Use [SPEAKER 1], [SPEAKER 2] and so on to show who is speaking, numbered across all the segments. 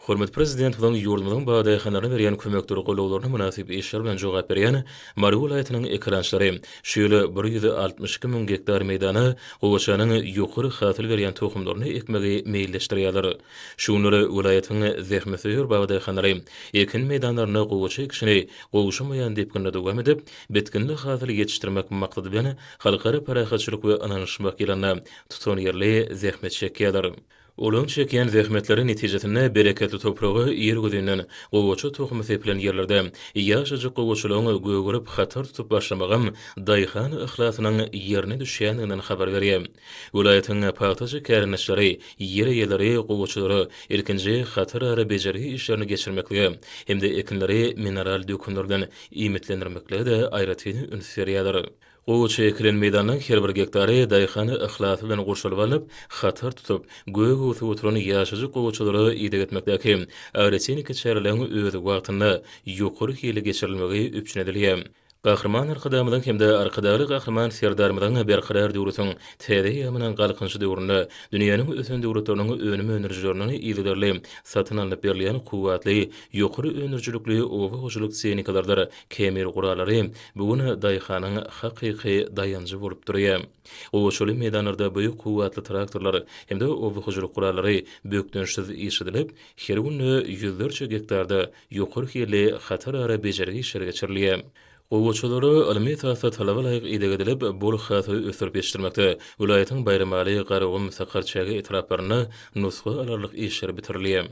[SPEAKER 1] Hormatly Prezidentimiziň ýurdumyzyň badaýhanlaryna berýän kömekdir golaglaryna mynasyp işler bilen jogap berýän Mary welaýatynyň ekerançylary şu ýyl bir ýüz altmyş iki müň gektar meýdana gowaçanyň ýokary hasyl berýän tohumlaryny ekmegi meýilleşdirýärler. Şu günler welaýatyň zähmetsöýer badaýhanlary ekin meýdanlarynda gowaça ekişini gowşamaýan depginde dowam edip, bitginli hasyl ýetişdirmek maksady bilen Halkara parahatçylyk we ynanyşmak ýylynda tutanýerli zähmet çekýärler. Olar çekýän zähmetleri netijesinde bereketli topraga ir güzinden gowaça tohumy sepilen ýerlerde ýaşajyk gowaçalaryň gögerip hatar tutup başlamagam daýhan yhlasynyň ýerine düşýändiginden habar berýär. Welaýatyň pagtaçy kärendeçileri, ýer eýeleri gowaçalara ilkinji hatar ara bejergi işlerini geçirmeklige hem-de ekinleri mineral dökünler bilen iýmitlendirmeklige-de aýratyn üns berýärler. Gowaça ekilen meýdanyň her bir gektary daýhan yhlasy bilen gurşalyp alnyp, hatar tutup, gök öwsüp oturan ýaşajyk gowaçalara ideg etmekdäki agrotehniki çäreleriň öz wagtynda, ýokary hilli geçirilmegi üpjün edilýär. Gahryman Arkadagymyzyň hem-de Arkadagly Gahryman Serdarymyzyň Berkarar döwletiň täze eýýamynyň Galkynyşy döwründe dünýäniň ösen döwletleriniň önüm öndürijilerinden yzygiderli satyn alnyp berilýän kuwwatly, ýokary öndürijilikli oba hojalyk tehnikalarydyr Kemir guralary bu gün daýhanyň hakyky daýanjy bolup durýar. Gowaçaly meýdanlarda beýik kuwwatly traktorlar hem-de oba hojalyk gurallary bökdençsiz işledilip, her günde ýüzlerçe gektarda ýokary hilli hatarara bejergi işleri geçirilýär. Gowaçalara ylmy esasda talaba laýyk ideg edilip, bol hasyly ösdürip ýetişdirmekde welaýatyň Baýramaly, Garagum, Sakarçäge etraplarynda nusga alarlyk işler bitirilýär.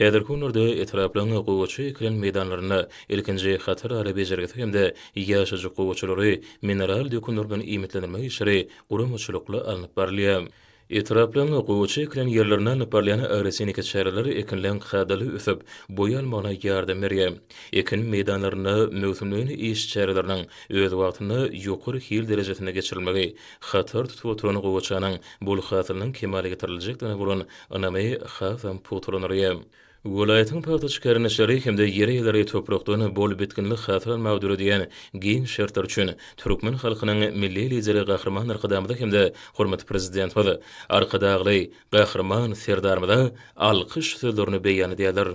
[SPEAKER 1] Häzirki günlerde etraplaryň gowaça ekilen meýdanlarynda ilkinji hatar ara bejergisi hem-de ýaşajyk gowaçalary mineral dökünler bilen iýmitlendirmek işleri guramaçylykly alnyp barylýar. Etraplaryň gowaça ekilen ýerlerinde alnyp barylýan agrotehniki çäreler ekinleň kadaly ösüp, boý almagyna ýardam berýär. Ekin meýdanlarynda möwsümleýin iş çäreleriniň öz wagtynda ýokary hil derejesinde geçirilmegi hatar tutup oturan gowaçanyň bol hasylynyň kemala getiriljekdigine bolan Ynamy hasam pugtalandyrýar. Welaýatyň pagta çykarylýançlary hem-de ýer eýeleri toprakdan bol bitginli hasyl almagy döredýän giň şertler üçin türkmen halkynyň Milli Lideri Gahryman Arkadagymyza hem-de hormatly Prezidentimiz Arkadagly Gahryman Serdarymyza alkyş sözlerini beýan edýärler.